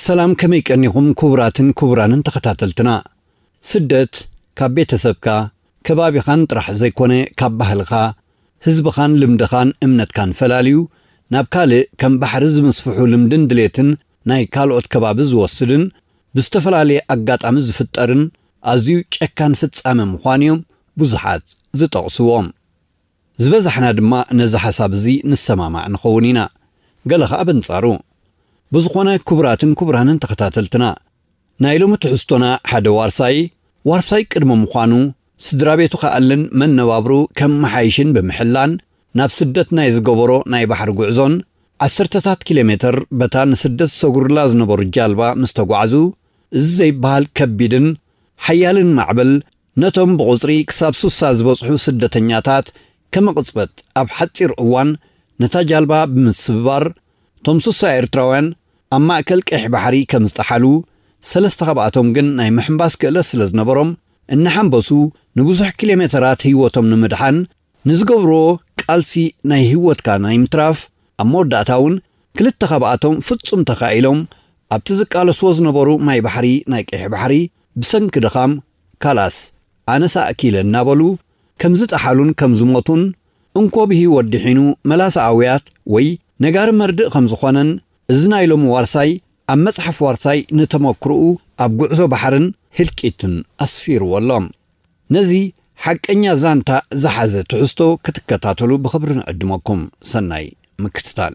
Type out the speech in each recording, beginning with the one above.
ሰላም ከመይ ቀኒኹም ኩቡራትን ኩቡራንን ተኸታተልትና ስደት ካብ ቤተሰብካ ከባቢኻን ጥራሕ ዘይኮነ ካብ ባህልኻ ህዝብኻን ልምድኻን እምነትካን ፈላልዩ ናብ ካልእ ከም ባሕሪ ዝምስፍሑ ልምድን ድሌትን ናይ ካልኦት ከባቢ ዝወስድን ብዝተፈላለየ ኣጋጣሚ ዝፍጠርን ኣዝዩ ጨካን ፍጻመ ምዃኑዮም ብዙሓት ዝጠቕስዎም ዝበዛሕና ድማ ነዚ ሓሳብ እዚ ንሰማማዕ ንኸውን ኢና፣ ገለ ከኣ በንጻሩ። ብዝኾነ ክቡራትን ክቡራንን ተኸታተልትና፣ ናይ ሎሚ ትሕዝቶና ሓደ ዋርሳይ፣ ዋርሳይ ቅድሚ ምዃኑ፣ ስድራቤቱ ክኣልን መነባብርኡ ከመሓይሽን ብምሕላን ናብ ስደት ናይ ዝገበሮ ናይ ባሕሪ ጉዕዞን ዓሰርተታት ኪሎሜተር በታ ንስደት ዝሰግሩላ ዝነበሩ ጃልባ ምስ ተጓዕዙ እዚ ዘይበሃል ከቢድን ሓያልን ማዕበል ነቶም ብቑጽሪ ክሳብ ሱሳ ዝበጽሑ ስደተኛታት ከመቕጽበት ኣብ ሓጺር እዋን ነታ ጃልባ ብምስብባር እቶም ሱሳ ኤርትራውያን ኣብ ማእከል ቀይሕ ባሕሪ ከምዝጠሓሉ ሰለስተ ካብኣቶም ግን ናይ ምሕንባስ ክእለት ስለዝነበሮም እናሓንበሱ ንብዙሕ ኪሎሜተራት ህይወቶም ንምድሓን ንዝገብርዎ ቃልሲ ናይ ህይወትካ ናይ ምትራፍ፣ ኣብ መወዳእታ እውን ክልተ ካብኣቶም ፍጹም ተኻኢሎም፣ ኣብቲ ዝቃለስዎ ዝነበሩ ማይ ባሕሪ ናይ ቀይሕ ባሕሪ ብሰንኪ ድኻም ካላስ ኣነስ ኣእኪለ እናበሉ ከም ዝጠሓሉን ከም ዝሞቱን እንኮ ብህይወት ድሒኑ መላሰ ኣውያት ወይ ነጋሪ መርድእ ከም ዝኾነን እዚ ናይ ሎሚ ዋርሳይ ኣብ መጽሓፍ ዋርሳይ ንተመኩሮኡ ኣብ ጉዕዞ ባሕርን ህልቂትን ኣስፊርዎ ኣሎ። ነዚ ሓቀኛ ዛንታ ዝሓዘ ትሕዝቶ ክትከታተሉ ብኽብሪ ንዕድመኩም። ሰናይ ምክትታል።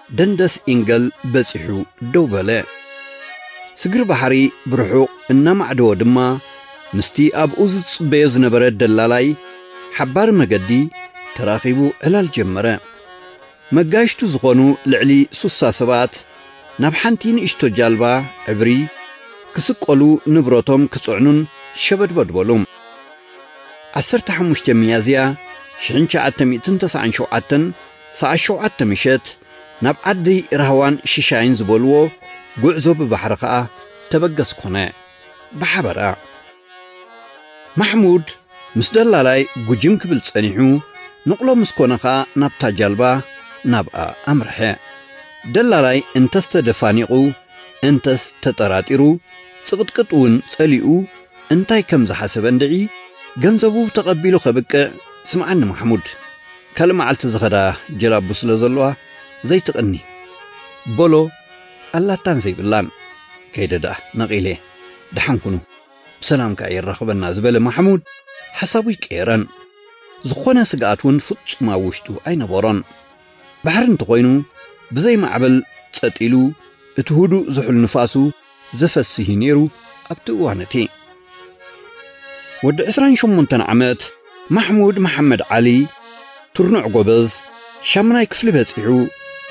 ደንደስ ኢንገል በጺሑ ደው በለ። ስግር ባሕሪ ብርሑቕ እናማዕደወ ድማ ምስቲ ኣብኡ ዝጽበዮ ዝነበረ ደላላይ ሓባሪ መገዲ ተራኺቡ ዕላል ጀመረ። መጋይሽቱ ዝኾኑ ልዕሊ ሱሳ ሰባት ናብ ሓንቲ ንእሽቶ ጃልባ ዕብሪ ክስቀሉ ንብረቶም ክጽዕኑን ሸበድበድ በሉ። ዓሰርተ ሓሙሽተ ሚያዝያ ሽሕን ትሽዓተ ሚእትን ተስዓን ሸውዓተን ሰዓት ሸውዓተ ምሸት ናብ ዓዲ ራህዋን ሽሻይን ዝበልዎ ጉዕዞ ብባሕሪ ከኣ ተበገስ ኮነ። ብሓበራ። ማሕሙድ ምስ ደላላይ ጉጅም ክብል ጸኒሑ ንቕሎ ምስ ኮነ ከኣ ናብታ ጃልባ ናብኣ ኣምርሐ። ደላላይ እንተስ ተደፋኒቑ እንተስ ተጠራጢሩ ጽቕጥቅጥ ውን ጸሊኡ እንታይ ከም ዝሓሰበ እንድዒ ገንዘቡ ተቐቢሉ ከብቅዕ ስምዓኒ ማሕሙድ። ካልእ መዓልቲ ዝኸዳ ጀላቡ ስለ ዘለዋ ዘይትቕኒ በሎ ኣላታን ዘይብላን ከይደ ደኣ ነቒለ ደሓን ኩኑ ብሰላም ከኣ የራኽበና ዝበለ ማሕሙድ ሓሳቡ ኣይቀየረን ዝኾነ ስግኣት ውን ፍጹም ኣብ ውሽጡ ኣይነበሮን ባሕሪ እንተኾይኑ ብዘይ ማዕበል ጸጥ ኢሉ እቲ ሁዱእ ዝሑል ንፋሱ ዘፈስህ እዩ ነይሩ ኣብቲ እዋን እቲ። ወዲ ዕስራን ሸሞንተን ዓመት ማሕሙድ መሓመድ ዓሊ ትርኑዕ ጎበዝ ሻምናይ ክፍሊ በጺሑ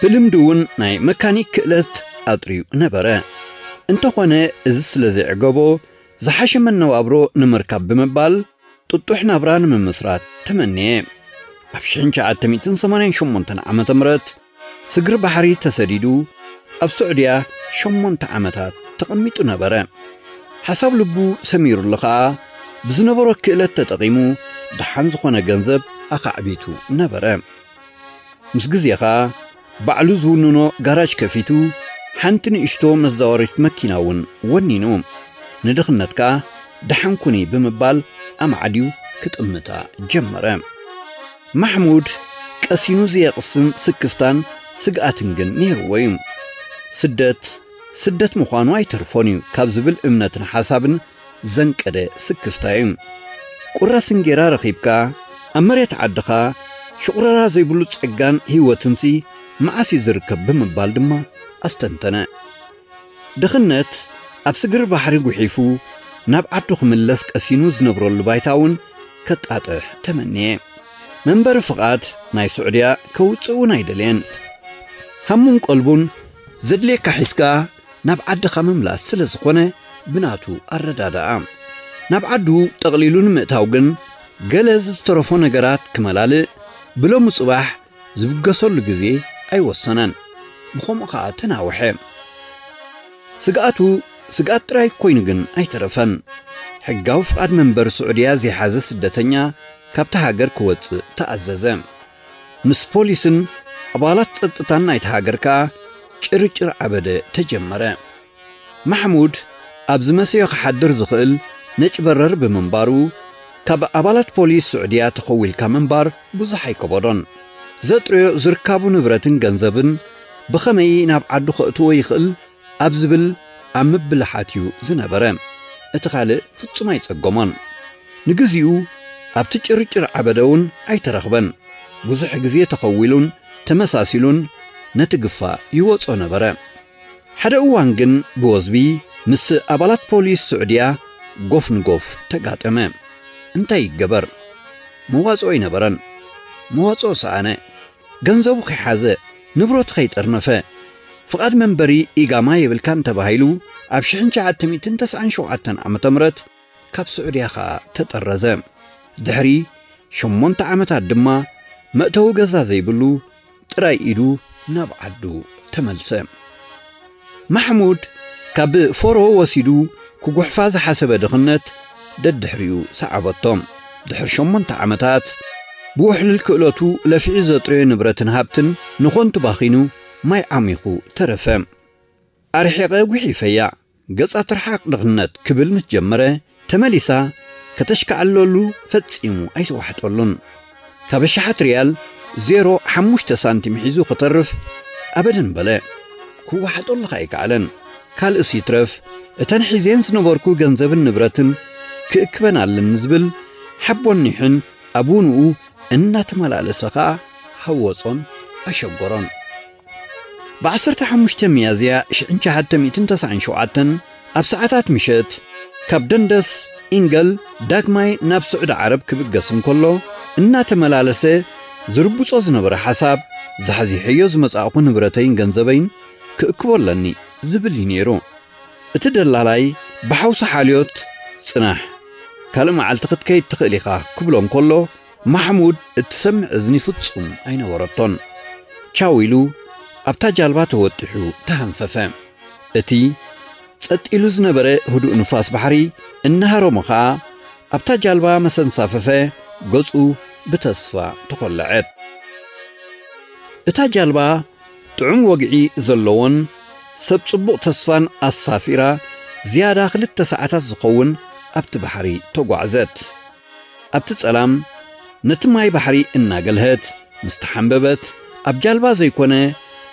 ብልምዲ እውን ናይ መካኒክ ክእለት ኣጥርዩ ነበረ። እንተኾነ እዚ ስለ ዘይዕገቦ ዝሓሸ መነባብሮ ንምርካብ ብምባል ጥጡሕ ናብራ ንምምስራት ተመነየ። ኣብ ሽሕን ሸዓተ ሚእትን ሰማንያን ሸሞንተን ዓመተ ምህረት ስግር ባሕሪ ተሰዲዱ ኣብ ሱዕድያ ሸሞንተ ዓመታት ተቐሚጡ ነበረ። ሓሳብ ልቡ ሰሚሩሉ ኸኣ ብዝነበሮ ክእለት ተጠቒሙ ደሓን ዝኾነ ገንዘብ ኣኻዕቢቱ ነበረ። ምስ ግዜ ኸኣ ባዕሉ ዝውንኖ ጋራጅ ከፊቱ ሓንቲ ንእሽቶ መዛወሪት መኪና እውን ወኒኑ ንድኽነት ከኣ ደሓን ኩኒ ብምባል ኣማዕድዩ ክጥምታ ጀመረ። ማሕሙድ ቀሲኑ ዘየቕስን ስክፍታን ስግኣትን ግን ነይርዎ እዩ። ስደት ስደት ምዃኑ ኣይተርፎን እዩ ካብ ዝብል እምነትን ሓሳብን ዘንቀደ ስክፍታ እዩ። ቁራስ እንጌራ ረኺብካ ኣብ መሬት ዓድኻ ሽቑረራ ዘይብሉ ጸጋን ህይወትንሲ መዓስ እዩ ዝርከብ ብምባል ድማ ኣስተንተነ። ድኽነት ኣብ ስግር ባሕሪ ጉሒፉ ናብ ዓዱ ክምለስ ቀሲኑ ዝነብረሉ ባይታ እውን ከጣጥሕ ተመንየ። መንበሪ ፍቓድ ናይ ሱዕድያ ከውጽእ እውን ኣይደልየን። ሃሙን ቀልቡን ዘድልየካ ሒዝካ ናብ ዓድኻ ምምላስ ስለ ዝኾነ ብናቱ ኣረዳድኣ ናብ ዓዱ ጠቕሊሉ ንምእታው ግን ገለ ዘዝተረፎ ነገራት ክመላልእ ብሎሚ ጽባሕ ዝብገሰሉ ግዜ ኣይወሰነን፣ ብኸምኡ ኸኣ ተናውሐ። ስግኣቱ ስግኣት ጥራይ ኰይኑ ግን ኣይተረፈን፣ ሕጋዊ ፍቓድ መንበሪ ስዑድያ ዘይሓዘ ስደተኛ ካብታ ሃገር ክወጽእ ተኣዘዘ። ምስ ፖሊስን ኣባላት ጸጥታን ናይታ ሃገር ከኣ ጭርጭር ዓበደ ተጀመረ። ማሕሙድ ኣብ ዝመስዮ ክሓድር ዝኽእል ነጭ በረር ብምንባሩ፣ ካብ ኣባላት ፖሊስ ስዑድያ ተኸዊልካ ምንባር ብዙሕ ኣይከበዶን። ዘጥርዮ ዝርካቡ ንብረትን ገንዘብን ብኸመይ ናብ ዓዱ ከእትዎ ይኽእል ኣብ ዝብል ኣብ ምብልሓት እዩ ዝነበረ። እቲ ካልእ ፍጹም ኣይጸገሞን። ንግዚኡ ኣብቲ ጭርጭር ዓበደ'ውን ኣይተረኽበን። ብዙሕ ግዜ ተኸዊሉን ተመሳሲሉን ነቲ ግፋ ይወጾ ነበረ። ሓደ እዋን ግን ብወዝቢ ምስ ኣባላት ፖሊስ ስዑድያ ጎፍ ንጎፍ ተጋጠመ። እንታይ ይገበር መዋጽኦ ኣይነበረን። መዋጽኦ ሰኣነ። ገንዘቡ ከይሓዘ፣ ንብረቱ ከይጠርነፈ። ፍቓድ መንበሪ ኢጋማ የብልካን ተባሂሉ ኣብ ሽሕን ትሽዓተ ሚእትን ተስዓን ሸውዓተን ዓመተ ምሕረት ካብ ስዑድያ ከኣ ተጠረዘ። ድሕሪ ሸሞንተ ዓመታት ድማ መእተዊ ገዛ ዘይብሉ ጥራይ ኢሉ ናብ ዓዱ ተመልሰ። ማሕሙድ ካብ ፎሮ ወሲዱ ክጉሕፋ ዝሓሰበ ድኽነት ደድሕሪኡ ሰዓበቶ። ድሕሪ ሸሞንተ ዓመታት ብውሕልል ክእለቱ ለፊዑ ዘጥረዮ ንብረትን ሃብትን ንኾንቱ ባኺኑ ማይ ዓሚኹ ተረፈ። ኣርሒቐ ጉሒፈያ። ገጻ ትርሓቕ ድኽነት ክብል ምስ ጀመረ ተመሊሳ ከተሽካዕለሉ ፈጺሙ ኣይተዋሕጠሉን። ካብ ኣሽሓት ሪያል ዜሮ ሓሙሽተ ሳንቲም ሒዙ ክተርፍ ኣበደን በለ። ክዋሓጠሉ ከኣ ኣይከኣለን። ካልእስ ይትረፍ እተን ሒዜን ዝነበርኩ ገንዘብን ንብረትን ክእክበን ኣለኒ ዝብል ሓቦን ኒሕን ኣቡንኡ እናተመላለሰ ከኣ ሃወጾን ኣሸጎሮን። ብ ዓሰርተ ሓሙሽተ ሚያዝያ ሽሕን ሸሓተ ሚእትን ተሰዓን ሸውዓተን ኣብ ሰዓታት ምሸት ካብ ደንደስ፣ ኢንገል፣ ዳግማይ ናብ ስዑዲ ዓረብ ክብገስ እንከሎ እናተመላለሰ ዝርብጾ ዝነበረ ሓሳብ ዛሕዚሐዮ ዝመጻእኩ ንብረተይን ገንዘበይን ክእክቦ ኣለኒ ዝብል እዩ ነይሩ። እቲ ደላላይ ብሓውሲ ሓልዮት ጽናሕ ካልእ መዓልቲ ክትከይድ ትኽእል ኢኻ ክብሎ እንከሎ፣ ማሕሙድ እትሰምዕ እዝኒ ፍጹም ኣይነበረቶን። ቻው ኢሉ ኣብታ ጃልባ ተወጢሑ ተሃንፈፈ። እቲ ጸጥ ኢሉ ዝነበረ ህዱእ ንፋስ ባሕሪ እናሃረሞ ኸኣ ኣብታ ጃልባ መሰ ኣንሳፈፈ፣ ገጹ ብተስፋ ተኾለዐት። እታ ጃልባ ጥዑም ወግዒ ዘለዎን ሰብ ጽቡቕ ተስፋን ኣሳፊራ ዝያዳ ክልተ ሰዓታት ዝኸውን ኣብቲ ባሕሪ ተጓዕዘት። ኣብቲ ጸላም ነቲ ማይ ባሕሪ እናገልሀት ምስ ተሓምበበት ኣብ ጃልባ ዘይኮነ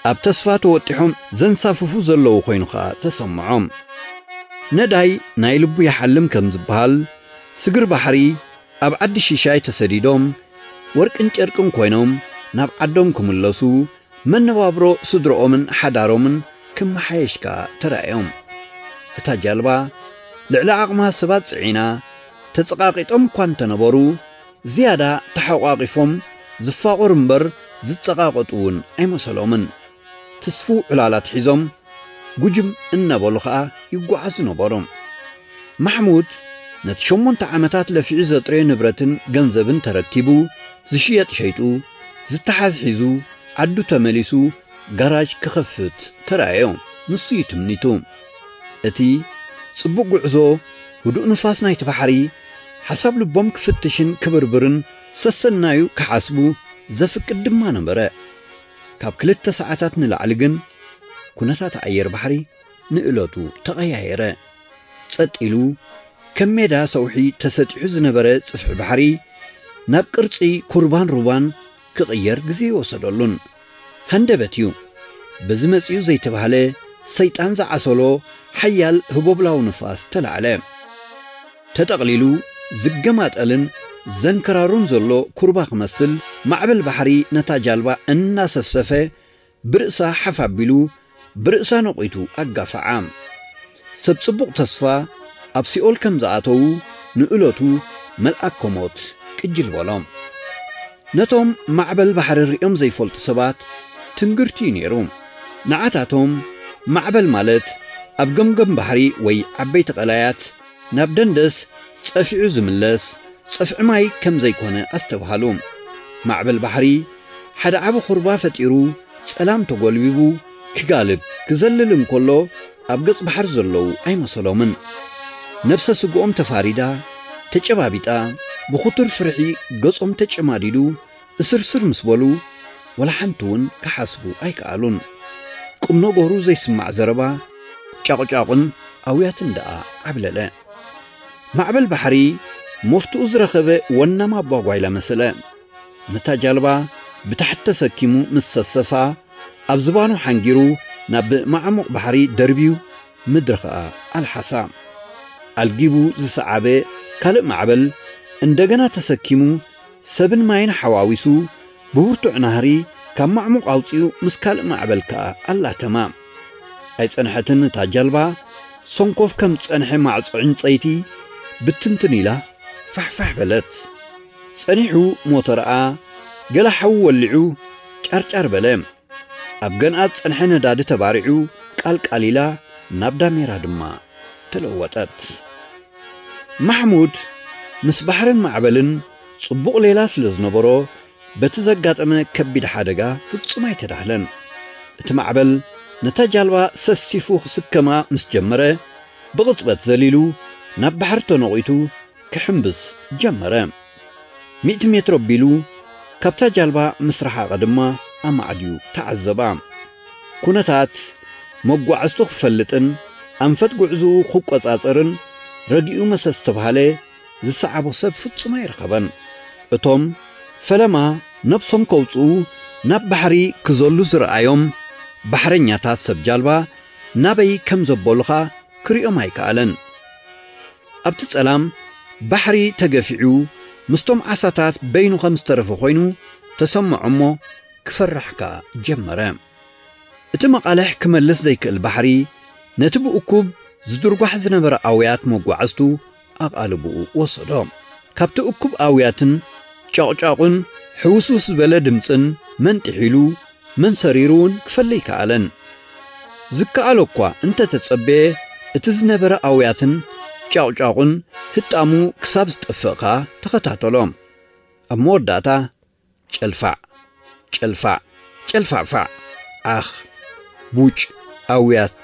ኣብ ተስፋ ተወጢሖም ዘንሳፍፉ ዘለዉ ኮይኑ ከኣ ተሰምዖም። ነዳይ ናይ ልቡ ይሓልም ከም ዝበሃል ስግር ባሕሪ ኣብ ዓዲ ሺሻይ ተሰዲዶም ወርቅን ጨርቅን ኮይኖም ናብ ዓዶም ክምለሱ መነባብሮ ስድርኦምን ሓዳሮምን ክመሓየሽ ከኣ ተራእዮም። እታ ጃልባ ልዕሊ ዓቕማ ሰባት ጽዒና ተጸቓቒጦም እኳ እንተነበሩ፣ ዝያዳ ተሓቋቚፎም ዝፋቖሩ እምበር ዝጸቓቐጡ እውን ኣይመሰሎምን። ትስፉው ዕላላት ሒዞም ጉጅም እናበሉ ኸኣ ይጓዓዙ ነበሩ። ማሕሙድ ነቲ ሸሞንተ ዓመታት ለፊዑ ዘጥረዮ ንብረትን ገንዘብን ተረኪቡ፣ ዝሽየጥ ሸይጡ፣ ዝተሓዝ ሒዙ፣ ዓዱ ተመሊሱ ጋራጅ ክኸፍት ተራእዮ። ንሱ'ዩ ትምኒቱ። እቲ ጽቡቕ ጉዕዞ፣ ህዱእ ንፋስ ናይቲ ባሕሪ፣ ሓሳብ ልቦም ክፍትሽን ክብርብርን ሰሰናዩ ክሓስቡ ዘፍቅድ ድማ ነበረ። ካብ ክልተ ሰዓታት ንላዕሊ ግን ኩነታት ኣየር ባሕሪ ንእለቱ ተቐያየረ። ጸጥ ኢሉ ከም ሜዳ ሰውሒ ተሰጢሑ ዝነበረ ጽፍሒ ባሕሪ ናብ ቅርጺ ኩርባን ሩባን ክቕየር ግዜ ኣይወሰደሉን። ሃንደበት እዩ በዚ መጺኡ ዘይተባህለ ሰይጣን ዝዓሰሎ ሓያል ህቦብላዊ ንፋስ ተላዕለ። ተጠቕሊሉ ዝገማጠልን ዘንከራሩን ዘሎ ኩርባ ክመስል፣ ማዕበል ባሕሪ ነታ ጃልባ እናሰፍሰፈ ብርእሳ ሓፍ ኣቢሉ፣ ብርእሳ ነቝቱ ኣጋፈዓ። ሰብ ጽቡቕ ተስፋ ኣብ ሲኦል ከም ዝኣተዉ ንእለቱ መልኣከ ሞት ቅጅል በሎም። ነቶም ማዕበል ባሕሪ ርእዮም ዘይፈልጡ ሰባት ትንግርቲ'ዩ ነይሩ። ንዓታቶም ማዕበል ማለት ኣብ ገምገም ባሕሪ ወይ ዓበይቲ ቀላያት፣ ናብ ደንደስ ጸፊዑ ዝምለስ ጽፍዒ ማይ ከም ዘይኮነ ኣስተብሃሉ። ማዕበል ባሕሪ ሓደ ዓቢ ኩርባ ፈጢሩ ጸላም ተጎልቢቡ ክጋልብ ክዘልል እንከሎ ኣብ ገጽ ባሕሪ ዘለዉ ኣይመሰሎምን። ነብሰ ስግኦም ተፋሪዳ ተጨባቢጣ ብኹቱር ፍርሒ ገጾም ተጨማዲዱ እስርስር ምስ በሉ ወላ ሓንቲ እውን ክሓስቡ ኣይከኣሉን። ቁም ነገሩ ዘይስማዕ ዘረባ፣ ጫቑጫቑን ኣውያትን ደኣ ዓብለለ። ማዕበል ባሕሪ መፍትኡ ዝረኸበ ወናም ኣባ ጓይላ መሰለ። ነታ ጃልባ ብታሕቲ ተሰኪሙ ምስ ሰሰሳ፣ ኣብ ዝባኑ ሓንጊሩ ናብ መዓሙቕ ባሕሪ ደርብዩ ምድሪ ከኣ ኣልሓሳ። ኣልጊቡ ዝሰዓበ ካልእ ማዕበል እንደገና ተሰኪሙ፣ ሰብን ማይን ሓዋዊሱ ብብርቱዕ ናህሪ ካብ ማዕሙቕ ኣውጺኡ ምስ ካልእ ማዕበል ከኣ ኣላተማ። ኣይጸንሐትን እታ ጃልባ፣ ሰንኮፍ ከም ዝጸንሐ ማዕጾ ዕንጸይቲ ብትንትን ኢላ ፋሕፋሕ በለት። ጸኒሑ ሞተራኣ ገለ ሓዊ ወሊዑ ጫርጫር በለ። ኣብ ገንኣት ጸንሐ ነዳዲ ተባሪዑ ቃልቃል ኢላ ናብ ዳሜራ ድማ ተለወጠት። ማሕሙድ ምስ ባሕርን ማዕበልን ጽቡቕ ሌላ ስለ ዝነበሮ በቲ ዘጋጠመ ከቢድ ሓደጋ ፍጹም ኣይተዳህለን። እቲ ማዕበል ነታ ጃልባ ሰፍሲፉ ክስከማ ምስ ጀመረ ብቕጽበት ዘሊሉ ናብ ባሕሪ ተኖቒቱ ክሕምብስ ጀመረ። ሚእቲ ሜትሮ ኣቢሉ ካብታ ጃልባ ምስ ረሓቐ ድማ ኣማዕድዩ ተዓዘባ። ኩነታት መጓዕዝቱ ክፈልጥን ኣንፈት ጉዕዝኡ ክቆጻጸርን ረጊኡ መሰስ ተብሃለ ዝሰዓቦ ሰብ ፍጹም ኣይረኸበን። እቶም ፈለማ ነብሶም ከውጽኡ ናብ ባሕሪ ክዘሉ ዝረኣዮም ባሕረኛታት ሰብ ጃልባ ናበይ ከም ዘበሉኻ ክርእዮም ኣይከኣለን። ኣብቲ ጸላም ባሕሪ ተገፊዑ ምስቶም ዓሳታት በይኑ ከም ዝተረፈ ኮይኑ ተሰምዖ እሞ ክፈርሕ ከኣ ጀመረ። እቲ መቓልሕ ክመልስ ዘይክእል ባሕሪ ነቲ ብእኩብ ዝድርጓሕ ዝነበረ ኣውያት መጓዕዝቱ ኣቓልቦኡ ወሰዶ። ካብቲ እኩብ ኣውያትን ጫቑጫቑን ሕውስውስ ዝበለ ድምጽን መንጢሕ ኢሉ መን ሰሪሩ ውን ክፈሊ ኣይከኣለን። ዝከኣሎ እኳ እንተ ተጸበየ እቲ ዝነበረ ኣውያትን ጫቑጫቑን ህጣሙ ክሳብ ዝጠፍእ ከኣ ተኸታተሎ። ኣብ መወዳእታ ጨልፋዕ! ጨልፋዕ! ጨልፋዕፋዕ! ዓኽ! ቡጭ! ኣውያት!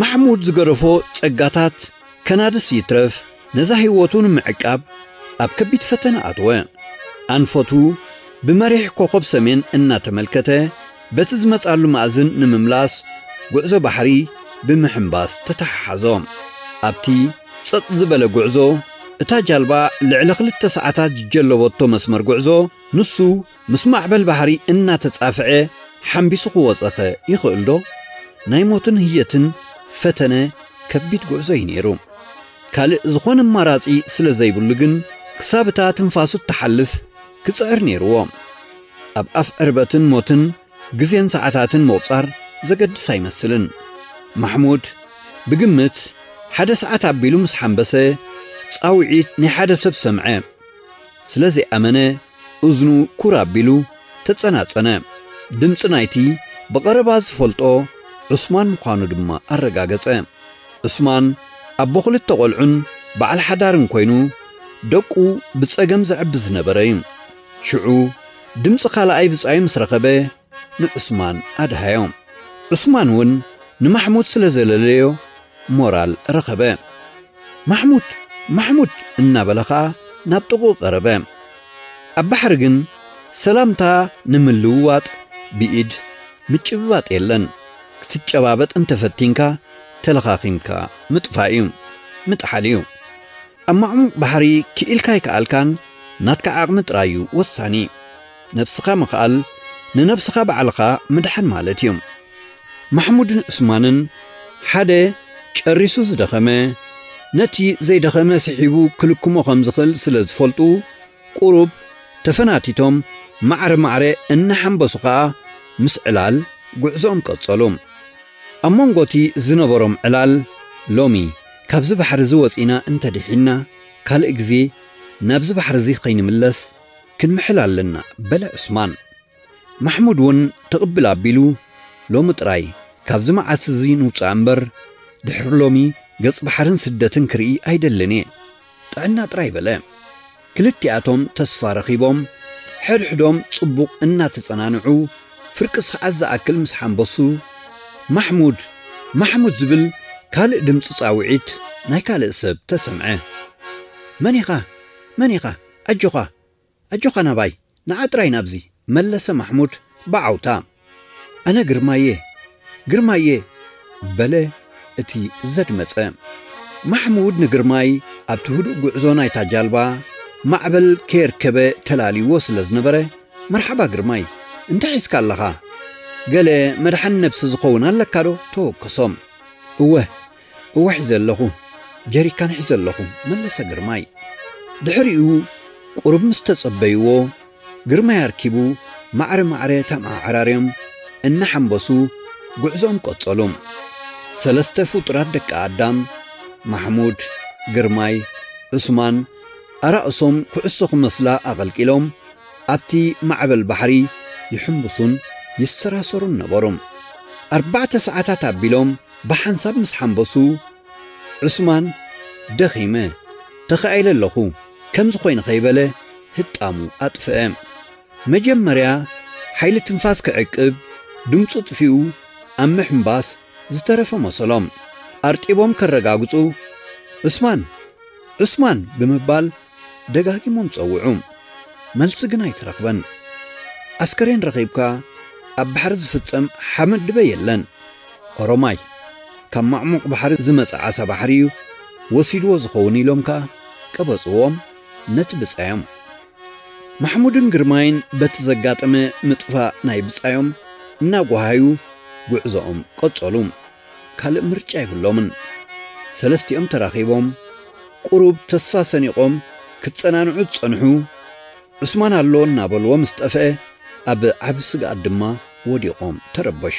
ማሕሙድ ዝገደፎ ጸጋታት ከናድስ ይትረፍ ነዛ ህይወቱ ንምዕቃብ ኣብ ከቢድ ፈተነ ኣተወ። ኣንፈቱ ብመሪሕ ኮኾብ ሰሜን እናተመልከተ በቲ ዝመጽኣሉ ማእዝን ንምምላስ ጉዕዞ ባሕሪ ብምሕንባስ ተተሓሓዞ። ኣብቲ ጸጥ ዝበለ ጉዕዞ እታ ጃልባ ልዕሊ ክልተ ሰዓታት ዝጀለቦቶ መስመር ጉዕዞ ንሱ ምስ ማዕበል ባሕሪ እናተጻፍዐ ሓንቢሱ ክወጸኸ ይኽእልዶ? ናይ ሞትን ህየትን ፈተነ ከቢድ ጉዕዞ እዩ ነይሩ። ካልእ ዝኾነ ኣማራጺ ስለ ዘይብሉ ግን ክሳብ እታ ትንፋሱ እትሓልፍ ክጽዕር ነይርዎ። ኣብ ኣፍ ዕርበትን ሞትን ግዜን ሰዓታትን ምቑጻር ዘገድስ ኣይመስልን። ማሕሙድ ብግምት ሓደ ሰዓት ኣቢሉ ምስ ሓምበሰ፣ ጻውዒት ናይ ሓደ ሰብ ሰምዐ። ስለ ዘይኣመነ እዝኑ ኩር ኣቢሉ ተጸናጸነ። ድምጺ ናይቲ ብቐረባ ዝፈልጦ ዑስማን ምዃኑ ድማ ኣረጋገጸ። ዑስማን ኣቦ ክልተ ቆልዑን በዓል ሓዳርን ኮይኑ ደቁ ብጸገም ዘዕቢ ዝነበረ'ዩ። ሽዑ ድምጺ ካልኣይ ብጻዩ ምስ ረኸበ ንዑስማን ኣድሃዮ። ዑስማን ውን ንማሕሙድ ስለ ዘለለዮ ሞራል ረኸበ። ማሕሙድ! ማሕሙድ! እናበለ ከኣ ናብ ጥቕኡ ቀረበ። ኣብ ባሕሪ ግን ሰላምታ ንምልውዋጥ ብኢድ ምጭብባጥ የለን። ክትጨባበጥ እንተፈቲንካ ተለኻኺምካ ምጥፋእ'ዩ። ምጥሓል'ዩ። ኣብ ማዕሙቕ ባሕሪ ክኢልካ ኣይከኣልካን ናትካ ዓቕሚ ጥራይ እዩ ወሳኒ። ነብስኻ ምኽኣል ንነብስኻ ባዕልኻ ምድሓን ማለት እዩ። ማሕሙድን ዑስማንን ሓደ ጨሪሱ ዝደኸመ ነቲ ዘይደኸመ ስሒቡ ክልክሞ ከም ዝኽእል ስለ ዝፈልጡ ቁሩብ ተፈናቲቶም ማዕረ ማዕረ እናሓምበሱ ከኣ ምስ ዕላል ጉዕዞኦም ቀጸሉ። ኣብ መንጎ'ቲ ዝነበሮም ዕላል ሎሚ ካብዚ ባሕርዚ ወጺእና እንተ ድሒንና፣ ካልእ ግዜ ናብዚ ባሕርዚ ከይንምለስ ክንምሕል ኣለና በለ ዑስማን። ማሕሙድ'ውን ትቕብል ኣቢሉ ሎሚ ጥራይ ካብዚ መዓት'ዚ ንውጻእ እምበር፣ ድሕሪ ሎሚ ገጽ ባሕርን ስደትን ክርኢ ኣይደልን እየ። ጥዕና ጥራይ በለ። ክልቲኣቶም ተስፋ ረኺቦም ሕድሕዶም ጽቡቕ እናተጸናንዑ ፍርቂ ሰዓት ዝኣክል ምስ ሓምበሱ፣ ማሕሙድ! ማሕሙድ! ዝብል ካልእ ድምጺ ጻውዒት ናይ ካልእ ሰብ ተሰምዐ። መን ኢኻ? መን ኢኻ? ኣጆኻ! ኣጆኻ ናባይ ንዓ ጥራይ ናብዚ። መለሰ ማሕሙድ ብዓውታ። ኣነ ግርማይ'የ! ግርማይ'የ! በለ እቲ ዘድመጸ። ማሕሙድ ንግርማይ ኣብቲ ህዱእ ጉዕዞ ናይታ ጃልባ ማዕበል ከየርከበ ተላልዩዎ ስለ ዝነበረ፣ መርሓባ ግርማይ! እንታይ ሒዝካ ኣለኻ? ገለ መድሓኒ ነብሲ ዝኸውን ኣለካዶ? ተወከሶ። እወ! እወ ሒዘ ኣለኹ፣ ጀሪካን ሒዘ ኣለኹ፣ መለሰ ግርማይ። ድሕሪኡ ቁሩብ ምስ ተጸበዩዎ፣ ግርማይ ኣርኪቡ ማዕረ ማዕረ ተመዓራርዮም እናሓምበሱ ጉዕዞኦም ቀጸሉ። ሰለስተ ፍጡራት ደቂ ኣዳም፣ ማሕሙድ፣ ግርማይ፣ ዑስማን፣ ኣራእሶም ኩዕሶ ክመስላ ኣቐልቂሎም ኣብቲ ማዕበል ባሕሪ ይሕምብሱን ይሰራሰሩን ነበሩ። ኣርባዕተ ሰዓታት ኣቢሎም ብሓንሳብ ምስ ሓንበሱ፣ ዑስማን ደኺመ፣ ተኻኢለ ኣለኹ ከምዚ ኾይኑ ከይበለ ህጣሙ ኣጥፍአ። መጀመርያ ሓይሊ ትንፋስ ክዕቅብ ድምጹ ኣጥፊኡ ኣብ ምሕንባስ ዝተረፈ መሰሎም። ኣርጢቦም ከረጋግጹ ዑስማን! ዑስማን! ብምባል ደጋጊሞም ጸውዑ፣ መልሲ ግን ኣይተረኽበን። ኣስከሬን ረኺብካ ኣብ ባሕሪ ዝፍጸም ሓመድ ድበ የለን። ኦሮማይ ካብ ማዕሙቕ ባሕሪ ዝመጸ ዓሳ ባሕሪ እዩ ወሲድዎ ዝኸውን ኢሎም ከኣ ቀበጽዎም ነቲ ብጻዮም። ማሕሙድን ግርማይን በቲ ዘጋጠመ ምጥፋእ ናይ ብጻዮም እናጓሃዩ ጉዕዞኦም ቀጸሉ። ካልእ ምርጫ የብሎምን። ሰለስቲኦም ተራኺቦም ቁሩብ ተስፋ ሰኒቖም ክጸናንዑ ዝጸንሑ፣ ዑስማን ኣሎ እናበልዎ ምስ ጠፍኤ ኣብ ዓቢ ስግኣት ድማ ወዲቖም ተረበሹ።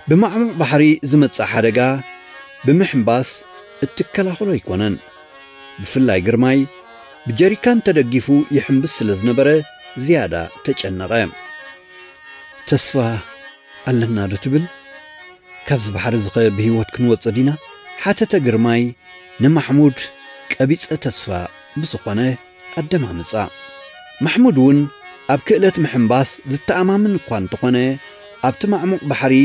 ብማዕሙቕ ባሕሪ ዝመጽእ ሓደጋ ብምሕንባስ እትከላኸሎ ኣይኮነን። ብፍላይ ግርማይ ብጀሪካን ተደጊፉ ይሕንብስ ስለ ዝነበረ ዝያዳ ተጨነቐ። ተስፋ! ኣለና ዶ ትብል? ካብዚ ባሕሪ'ዚኸ ብህይወት ክንወጽእ ዲና? ሓተተ ግርማይ ንማሕሙድ ቀቢጸ ተስፋ ብዝኾነ ኣደማምጻ። ማሕሙድ'ውን ኣብ ክእለት ምሕንባስ ዝተኣማምን እኳ እንተኾነ፣ ኣብቲ ማዕሙቕ ባሕሪ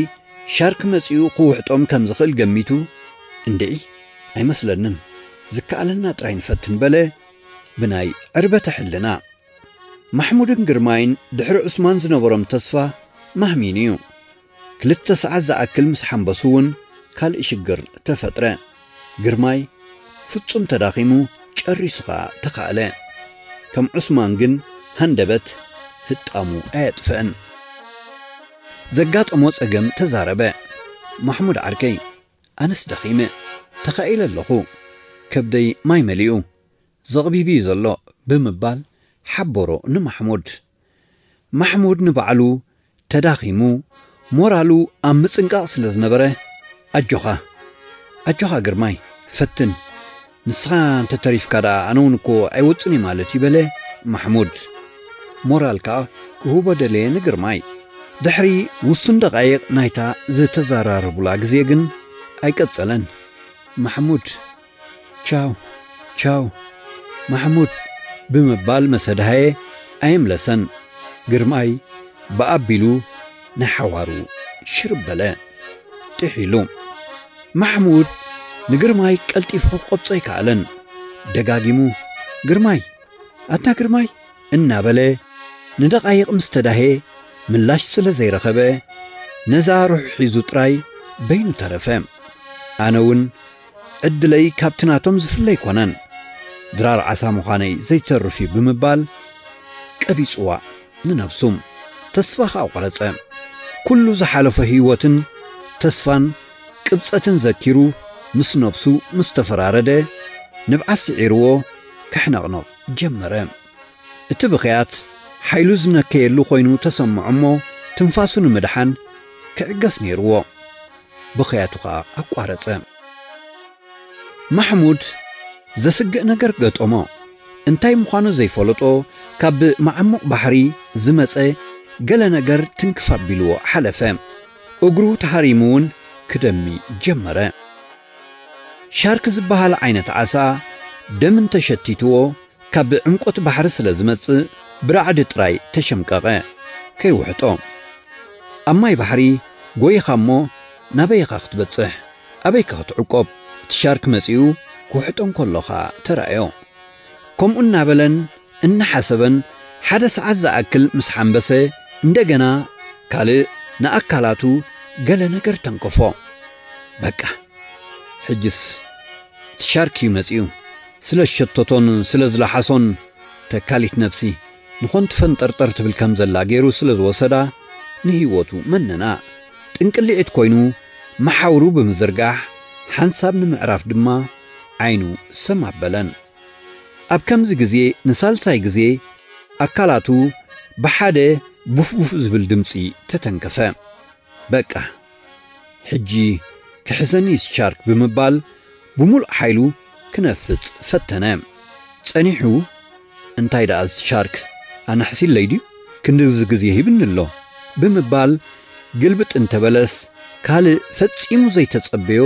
ሻርክ መጺኡ ክውሕጦም ከም ዝኽእል ገሚቱ፣ እንድዒ ኣይመስለንን፣ ዝከኣለና ጥራይ ንፈትን በለ ብናይ ዕርበተ ሕልና። ማሕሙድን ግርማይን ድሕሪ ዑስማን ዝነበሮም ተስፋ ማህሚኑ እዩ። ክልተ ሰዓት ዝኣክል ምስ ሓምበሱ እውን ካልእ ሽግር ተፈጥረ። ግርማይ ፍጹም ተዳኺሙ ጨሪሱ ከኣ ተኻእለ። ከም ዑስማን ግን ሃንደበት ህጣሙ ኣየጥፍእን። ዘጋጠሞ ጸገም ተዛረበ። ማሕሙድ ዓርከይ ኣነስ ደኺመ፣ ተኻኢለ ኣለኹ። ከብደይ ማይ መሊኡ። ዘቕቢብ'ዩ ዘሎ ብምባል ሓበሮ ንማሕሙድ። ማሕሙድ ንባዕሉ ተዳኺሙ ሞራሉ ኣብ ምጽንቃቕ ስለ ዝነበረ ኣጆኻ! ኣጆኻ ግርማይ! ፈትን! ንስኻ እንተ ተሪፍካ ደኣ ኣነ'ውን እኮ ኣይወጽን'የ ማለት'ዩ በለ ማሕሙድ። ሞራል ከኣ ክህቦ ደለየ ንግርማይ። ድሕሪ ውሱን ደቓይቕ ናይታ ዝተዘራረቡላ ግዜ ግን ኣይቀጸለን። ማሕሙድ። ቻው ቻው ማሕሙድ ብምባል መሰድሃየ ኣየምለሰን። ግርማይ ብኣ ኣቢሉ ንሓዋሩ ሽርብ በለ። ጢሕ ኢሉ። ማሕሙድ ንግርማይ ቀልጢፉ ክቆብጾ ኣይከኣለን። ደጋጊሙ ግርማይ ኣታ ግርማይ እናበለ ንደቓይቕ ምስ ተዳህየ ምላሽ ስለ ዘይረኸበ ነዛ ርሑ ሒዙ ጥራይ በይኑ ተረፈ። ኣነውን ዕድለይ ካብቲ ናቶም ዝፍለ ኣይኮነን፣ ድራር ዓሳ ምዃነይ ዘይተርፍ እዩ ብምባል ቀቢጽዋ ንነብሱ ተስፋ ከኣ ቆረጸ። ኩሉ ዝሓለፎ ህይወትን ተስፋን ቅብጸትን ዘኪሩ ምስ ነብሱ ምስ ተፈራረደ ንብዓት ስዒርዎ ከሕነቕንቕ ጀመረ። እቲ ብኽያት ሓይሉ ዝነከየሉ ኮይኑ ተሰምዖ እሞ ትንፋሱ ንምድሓን ክዕገስ ነይርዎ። ብኽያቱ ከኣ ኣቋረጸ። ማሕሙድ ዘስግእ ነገር ገጠሞ። እንታይ ምዃኑ ዘይፈለጦ ካብ መዓሙቕ ባሕሪ ዝመጸ ገለ ነገር ትንክፍ ኣቢልዎ ሓለፈ። እግሩ ተሃሪሙ ውን ክደሚ ጀመረ። ሻርክ ዝበሃል ዓይነት ዓሳ ደም እንተሸቲትዎ ካብ ዕምቆት ባሕሪ ስለ ዝመጽእ ብራዕዲ ጥራይ ተሸምቀቐ ከይውሕጦ። ኣብ ማይ ባሕሪ ጎይኻ እሞ ናበይ ኢኻ ክትበጽሕ ኣበይከ ክትዕቆብ እቲ ሻርክ መጺኡ ክውሕጦ እንከሎ ከኣ ተራእዮ። ከምኡ እናበለን እናሓሰበን ሓደ ሰዓት ዝኣክል ምስ ሓምበሰ እንደገና ካልእ ንኣካላቱ ገለ ነገር ተንከፎ። በቃ ሕጅስ እቲ ሻርክ እዩ መጺኡ። ስለ ሸተቶን ስለ ዝለሓሶን ተካሊት ነብሲ ንኾንቲ ፈንጠርጠር ትብል ከም ዘላ ገይሩ ስለ ዝወሰዳ ንህይወቱ መነና ጥንቅሊዒት ኮይኑ መሓውሩ ብምዝርጋሕ ሓንሳብ ንምዕራፍ ድማ ዓይኑ ሰም ኣበለን። ኣብ ከምዚ ግዜ ንሳልሳይ ግዜ ኣካላቱ ብሓደ ቡፍቡፍ ዝብል ድምጺ ተተንከፈ። በቃ! ሕጂ ክሕዘኒ ስቻርክ ብምባል ብምሉእ ሓይሉ ክነፍጽ ፈተነ። ጸኒሑ እንታይ ደኣ ስቻርክ ኣናሕሲለይ ድዩ ክንድዚ ግዜ ሂብኒ ኣሎ ብምባል ግልብጥ እንተበለስ ካልእ ፈጺሙ ዘይተጸበዮ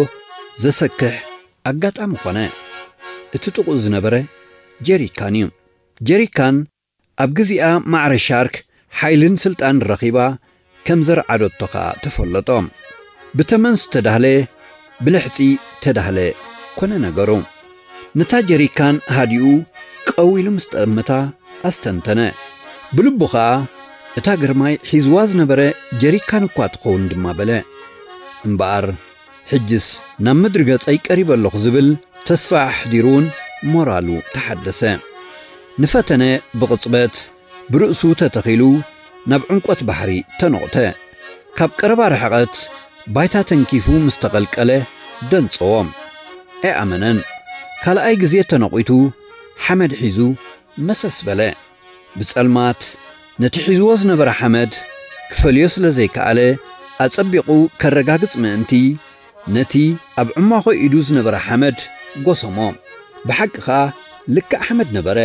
ዘሰክሕ ኣጋጣሚ ኮነ። እቲ ጥቕኡ ዝነበረ ጀሪካን'ዩ። ጀሪካን። ኣብ ግዚኣ ማዕረ ሻርክ ሓይልን ስልጣን ረኺባ ከም ዘርዓዶቶ ከኣ ተፈለጦ። ብተመን ዝተዳህለ ብልሕጺ ተዳህለ ኮነ ነገሩ። ነታ ጀሪካን ሃዲኡ ቀው ኢሉ ምስ ጠመታ ኣስተንተነ። ብልቡ ከኣ እታ ግርማይ ሒዝዋ ዝነበረ ጀሪካን እኳ ትኸውን ድማ በለ። እምበኣር! ሕጅስ ናብ ምድሪ ገጸይ ቀሪበ ኣሎኹ ዝብል ተስፋ ኣሕዲሩውን ሞራሉ ተሓደሰ። ንፈተነ ብቕጽበት ብርእሱ ተተኺሉ ናብ ዕምቈት ባሕሪ ተኖቕተ። ካብ ቀረባ ርሕቐት ባይታ ተንኪፉ ምስ ተቐልቀለ ደንጸዎ። ኣይኣመነን። ካልኣይ ግዜ ተነቝቱ ሓመድ ሒዙ መሰስ በለ። ብጸልማት ነቲ ሒዝዎ ዝነበረ ሓመድ ክፈልዮ ስለ ዘይከኣለ፣ ኣጸቢቑ ከረጋግጽ ምእንቲ፣ ነቲ ኣብ ዕሟኾ ኢዱ ዝነበረ ሓመድ ጎሰሞ። ብሓቂ ኸኣ ልክዕ ሓመድ ነበረ።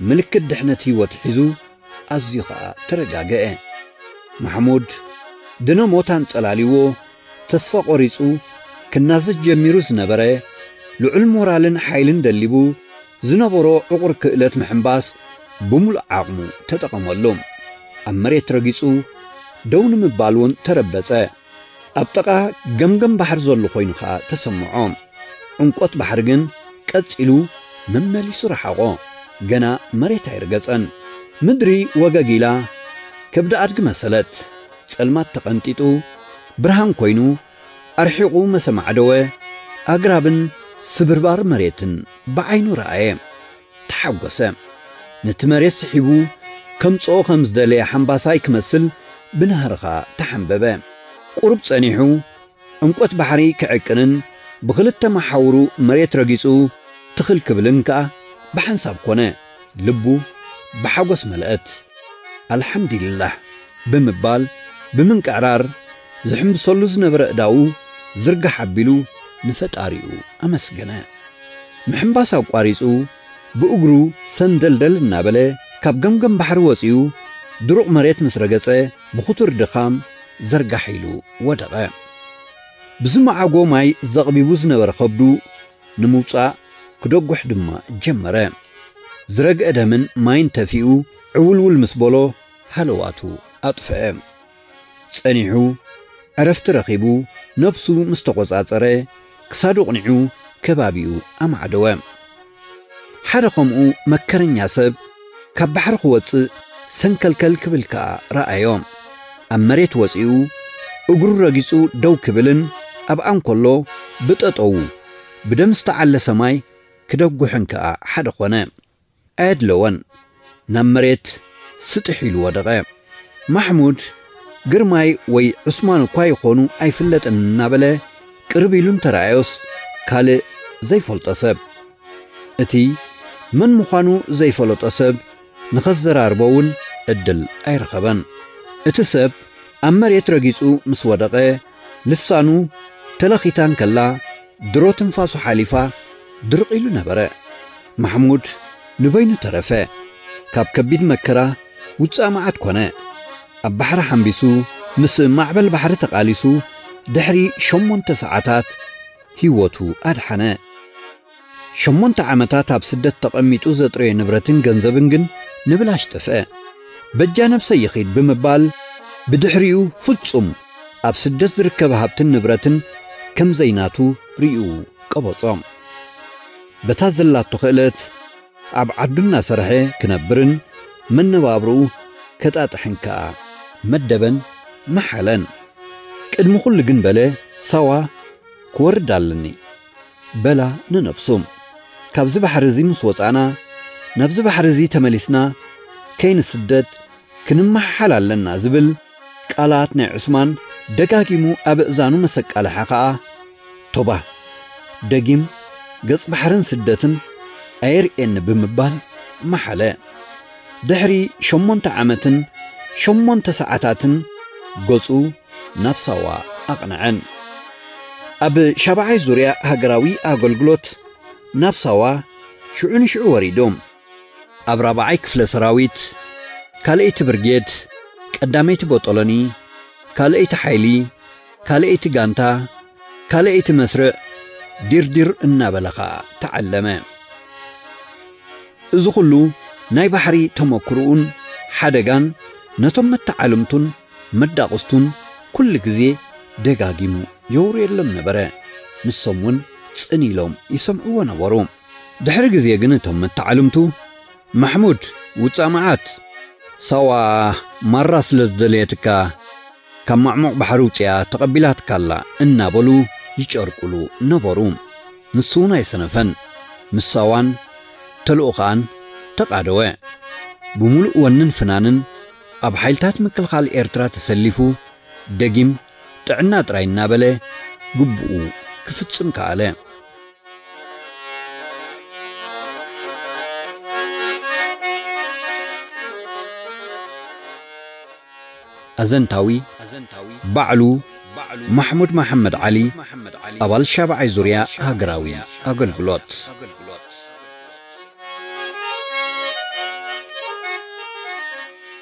ምልክት ድሕነት ህይወቱ ሒዙ፣ ኣዝዩ ኸኣ ተረጋግኤ። ማሕሙድ፣ ድነ ሞት ኣንጸላልይዎ ተስፋ ቆሪጹ ክናዘዝ ጀሚሩ ዝነበረ፣ ልዑል ሞራልን ሓይልን ደሊቡ፣ ዝነበሮ ዕቑር ክእለት ምሕንባስ ብምሉእ ዓቕሙ ተጠቐመሉ። ኣብ መሬት ረጊጹ ደው ንምባል እውን ተረበጸ። ኣብ ጥቓ ገምገም ባሕሪ ዘሎ ኮይኑ ከኣ ተሰምዖ። ዕምቆት ባሕሪ ግን ቀጺሉ መመሊሱ ረሓቖ። ገና መሬት ኣይረገጸን። ምድሪ ወገግ ኢላ ከብዲ ኣድጊ መሰለት። ጸልማት ተቐንጢጡ ብርሃን ኮይኑ ኣርሒቑ መሰ ኣማዕደወ፣ ኣግራብን ስብርባር መሬትን ብዓይኑ ረኣየ። ተሓጐሰ። ነቲ መሬት ስሒቡ ከምጽኦ ከም ዝደለየ ሓምባሳይ ክመስል ብናህርኻ ተሓምበበ። ቁሩብ ጸኒሑ ዕምቈት ባሕሪ ክዕቅንን ብኽልተ መሓውሩ መሬት ረጊጹ ትኽል ክብልን ከኣ ብሓንሳብ ኰነ። ልቡ ብሓጎስ መለኣት። ኣልሓምዲሊላህ ብምባል ብምንቅዕራር ዝሕምብሰሉ ዝነበረ ኣእዳዉ ዝርጋሕ ኣቢሉ ንፈጣሪኡ ኣመስገነ። ምሕምባስ ኣቋሪጹ ብእግሩ ሰንደልደል እናበለ ካብ ገምገም ባሕሪ ወጺኡ ድሩቕ መሬት ምስ ረገጸ ብኽቱር ድኻም ዘርጋሕ ኢሉ ወደቐ። ብዝመዓጎ ማይ ዘቕቢቡ ዝነበረ ከብዱ ንምውጻእ ክደጉሕ ድማ ጀመረ። ዝረግአ ደምን ማይን ተፊኡ ዕውልውል ምስ በሎ ሃለዋቱ ኣጥፍአ። ጸኒሑ ዕረፍቲ ረኺቡ ነብሱ ምስ ተቖጻጸረ ክሳዱ ኣቕኒዑ ከባቢኡ ኣማዕደወ። ሓደ ከምኡ መከረኛ ሰብ፣ ካብ ባሕሪ ክወጽእ ሰንከልከል ክብል ከኣ ረኣዮ። ኣብ መሬት ወጺኡ እግሩ ረጊጹ ደው ክብልን ኣብኣ እንከሎ ብጠጠዉ ብደም ዝተዓለሰ ማይ ክደጉሕን ከኣ ሓደ ኮነ። ኣየድለወን። ናብ መሬት ስጥሕ ኢሉ ወደቐ። ማሕሙድ፣ ግርማይ ወይ ዑስማን እኳ ይኾኑ ኣይፍለጥን እናበለ ቅርብ ኢሉ እንተረኣዮስ ካልእ ዘይፈልጦ ሰብ። እቲ መን ምዃኑ ዘይፈለጦ ሰብ ንኸዘራርቦ እውን ዕድል ኣይረኸበን። እቲ ሰብ ኣብ መሬት ረጊጹ ምስ ወደቐ፣ ልሳኑ ተለኺታ እንከላ ድሮ ትንፋሱ ሓሊፋ ድርቕ ኢሉ ነበረ። ማሕሙድ ንበይኑ ተረፈ። ካብ ከቢድ መከራ ውጻእ መዓት ኮነ። ኣብ ባሕሪ ሓምቢሱ ምስ ማዕበል ባሕሪ ተቓሊሱ ድሕሪ ሸሞንተ ሰዓታት ህይወቱ ኣድሓነ። ሸሞንተ ዓመታት ኣብ ስደት ተቐሚጡ ዘጥረዮ ንብረትን ገንዘብን ግን ንብላሽ ጠፍአ። በጃ ነብሰይ ይኺድ ብምባል ብድሕሪኡ ፍጹም ኣብ ስደት ዝርከብ ሃብትን ንብረትን ከም ዘይናቱ ርእዩ ቀበጾ። በታ ዘላቶ ክእለት፣ ኣብ ዓዱ እናሰርሐ ክነብርን መነባብሮኡ ከጣጥሕን ከኣ መደበን መሓለን። ቅድሚ ኩሉ ግን በለ ሳዋ ክወርድ ኣለኒ በላ ንነብሱ። ካብዚ ባሕሪ እዚ ምስ ወጻእና ናብዚ ባሕሪ እዚ ተመሊስና ከይንስደድ፣ ክንመሓሓል ኣለና ዝብል ቃላት ናይ ዑስማን ደጋጊሙ ኣብ እእዛኑ መሰቃለሓ ከኣ ቶባህ ደጊም ገጽ ባሕርን ስደትን ኣየርእየኒ ብምባል መሓለ። ድሕሪ ሸሞንተ ዓመትን ሸሞንተ ሰዓታትን ገጹ ናብ ሳዋ ኣቕነዐ። ኣብ ሻብዓይ ዙርያ ሃገራዊ ኣገልግሎት ናብ ሳዋ ሽዑ ንሽዑ ወሪዱ። ኣብ ራብዓይ ክፍለ ሰራዊት ካልኣይቲ ብርጌድ ቀዳመይቲ ቦጦሎኒ ካልኣይቲ ሓይሊ ካልኣይቲ ጋንታ ካልኣይቲ መስርዕ ዲርዲር እናበለ ኸኣ ተዓለመ። እዚ ኹሉ ናይ ባሕሪ ተሞክርኡን ሓደጋን ነቶም መተዓልምቱን መዳቕስቱን ኩሉ ግዜ ደጋጊሙ የውርየሎም ነበረ። ንሶም ውን ጽን ኢሎም ይሰምዕዎ ነበሩ። ድሕሪ ግዜ ግን እቶም መተዓልምቱ፣ ማሕሙድ ውጻእ መዓት! ሳዋ ማራ ስለ ዝደለየትካ ካብ ማዕሙቕ ባሕሪ ውጺኣ ተቐቢላትካ ኣላ እናበሉ ይጨርቁሉ ነበሩ። ንሱ'ውን ኣይሰነፈን። ምስ ሳዋን ተልእኾኣን ተቓደወ። ብምሉእ ወንን ፍናንን ኣብ ሓይልታት ምክልኻል ኤርትራ ተሰሊፉ ደጊም ጥዕና ጥራይ እናበለ ግቡኡ ክፍጽም ከኣለ። ኣዘንታዊ፣ ባዕሉ ማሕሙድ መሓመድ ዓሊ፣ ኣባል ሻብዓይ ዙርያ ሃገራዊ ኣገልግሎት።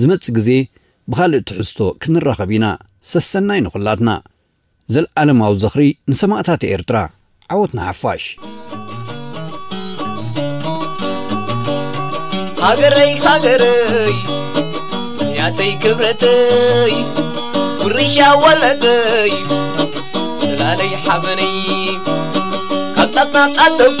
ዝመጽእ ግዜ ብኻልእ ትሕዝቶ ክንራኸብ ኢና ሰሰናዩ ንኹላትና። ዘልኣለማዊ ዝኽሪ ንሰማእታት ኤርትራ! ዓወት ንሓፋሽ! ሃገረይ ሃገረይ ያተይ ክብረተይ ውርሻ ወለደይ ጽላለይ ሓበነይ ካብ ጣፍ ናብ ጣፍ ደጉ